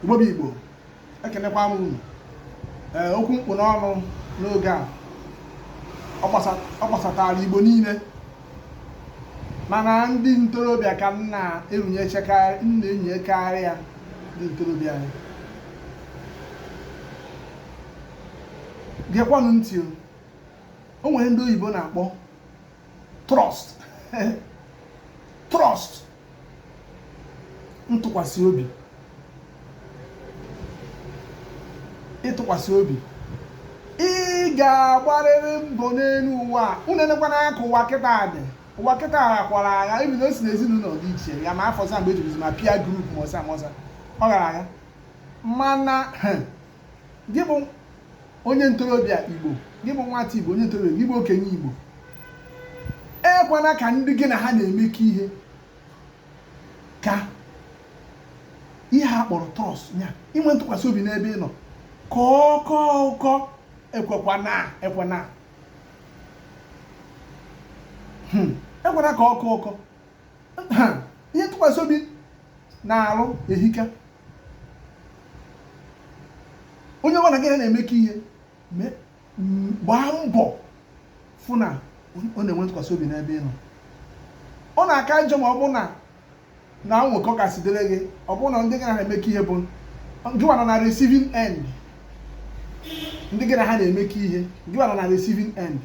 Igbo bụ Igbo ekenekwa m unu ee okwu m kpụ n'ọnụ n'oge a ọ gbasatara Igbo niile mana ndị ntorobịa ka m na-erunyekarị ya ndị ntorobịa anyị gekwanụ ntị o nwere ndị oyibo na-akpọ trust trust ntụkwasị obi ịtụkwasị obi ị ga-agbarịrị mbọ n'elu ụwa unu enekwana ka ụwa kịta dị ụwa kịta akwara agha ebi na o si n'ezinụlọ dị iche ya ma afọ sa mgbe ejibizi ma peer group ma ọsa ma ọsa ọ gara agha mana gị bụ onye ntorobịa igbo gị bụ nwata igbo onye ntorobịa gị bụ okenye igbo ekwana ka ndị gị na ha na-emekọ ihe ka ihe a kpọrọ trust ya inwe ntụkwasị obi n'ebe ị nọ ka ọ kọ ụkọ ekwekwana ekwana hmm. ekwana ka ọ kọ ụkọ ihe ntụkwasị obi na-arụ ehika onye ọbụla gị na-emekọ ihe gbaa mbọ fụ na ọ na-enwe ntụkwasị obi n'ebe ị nọ ọ na-aka njọ ma ọ bụ na na nwekọ kasị dịrị gị ọ bụrụ na ndị gị na ha emekọ ihe bụ gịwa nọ na receiving end ndị gị na ha na-emekọ ihe gịwa nọ na receiving end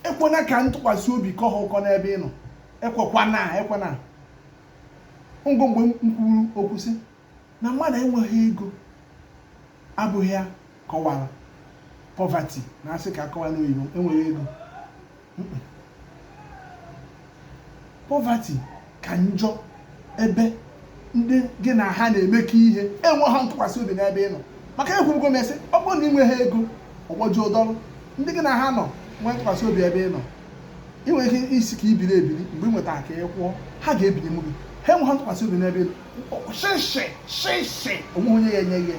ekwena ka ntụkwasị obi kọ ha ụkọ n'ebe ị nọ ekwekwana ekwena ngụ mgbe m kwuru okwu sị na mmadụ enweghị ego abụghị ya kọwara poverty na a sị ka a kọwaa n'oyibo enweghị ego poverty ka njọ ebe ndị gị na ha na-emekọ ihe enweghị ntụkwasị obi n'ebe ị nọ maka ekwurugo m sị ọ bụrụ na ị nweghị ego ọgbọjụ ụdọrụ ndị gị na ha nọ nwee ntụkwasị obi ebe ị nọ ị nwere ike ịsị ka i biri ebiri mgbe ị nwetara ka ị kwụọ ha ga-ebinye m gị ha enweghị ntụkwasị obi n'ebe shịshị shịshị o nweghị onye ya-enye gị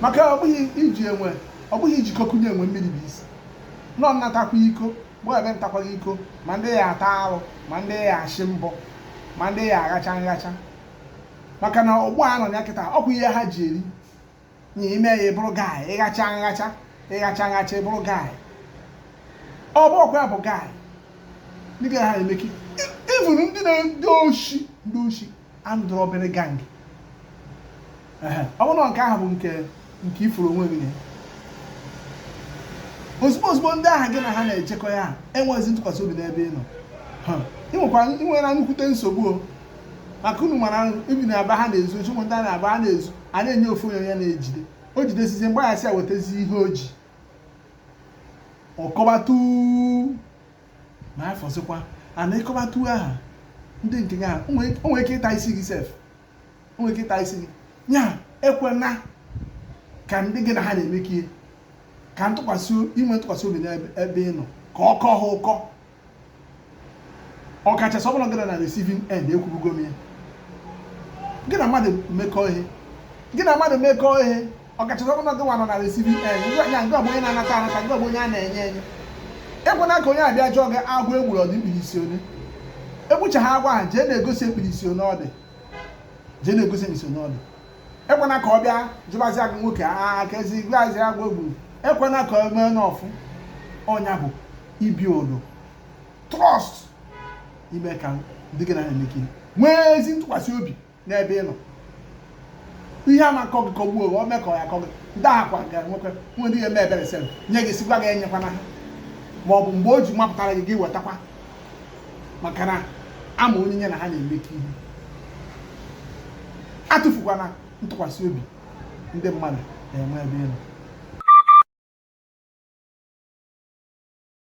maka ọ bụghị iji enwe ọ bụghị iji iko kunye enwe mmiri bụ isi na ọ nnatakwa iko mgbe ebe ntakwaghị iko ma ndị ya-ata arụ ma ndị ya-achị mbọ ma ndị ya-aghacha nghacha maka na ọgbọ a nọ ya kịta ọ bụ ihe ha ji eri na ime ya ị bụrụ guy ịghacha nghacha ịghacha nghacha ị bụrụ guy ọ bụ ọkwa ya bụ guy ndị gị na ha emekọ even ndị na-ezu oshi ndị oshi armed robbery gang ọ bụrụ na nke ahụ bụ nke nke ị furu onwe gị ozugbo ozugbo ndị ahụ gị na ha na-ejekọ ya enweghịzi ntụkwasị obi n'ebe ị nọ ị nwekwara ị nwere nnukwute nsogbu maka unu mara ebe na aba ha na-ezu oshi ụmụ ndị a na-aba ha na-ezu a na-enye ofu onye ya na-ejide o jidesizie agwa ya sị ya wetazi ihe o ji ọ kọbata ma afọzikwa and ịkọbata aha ndị nke gị ahụ o nwere ike ịta isi gị sef o nwere ike ịta isi gị nya ekwena ka ndị gị na ha na-emekọ ihe ka ntụkwasị inwe ntụkwasị obi n'ebe ị nọ ka ọ kọọ ha ụkọ ọkachasị ọ bụ na gị nọ na receiving end ekwubugo m ya gị na mmadụ mekọọ ihe gị na mmadụ mekọọ ihe ọkachasị ọ bụ na gị nwa nọ na receiving end ngwa ya nke ọ bụ onye na-anata anata nke ọ bụ onye a na-enye enye ekwena ka onye abịa jụọ gị agwọ e gburu ọ dị mkpirisi onye egbucha ha agwọ ha jee na-egosi mkpirisi onye ọ dị jee na-egosi mkpirisi onye ọ dị ekwena ka ọ bịa jụbazi agụ nwoke aka ezi igwe azị agwa gburu ekwena ka o mee n'ọfụ ọ nya bụ ị build trust ime ka ndị gị na ha na-emekọ ihe nwee ezi ntụkwasị obi n'ebe ị nọ ihe a na-akọ gị kọgbuo o mee ka ọ ya akọ gị ndị akwa gara nwekwa nwere ihe eme ebere sere nye gị sị gị enyekwana ha ma ọ bụ mgbe o ji mapụtara gị gị wetakwa maka na ama onye nye na ha na-emekọ ihe atụfukwana ntụkwasị obi ndị mmadụ na-enwe ebe ị nọ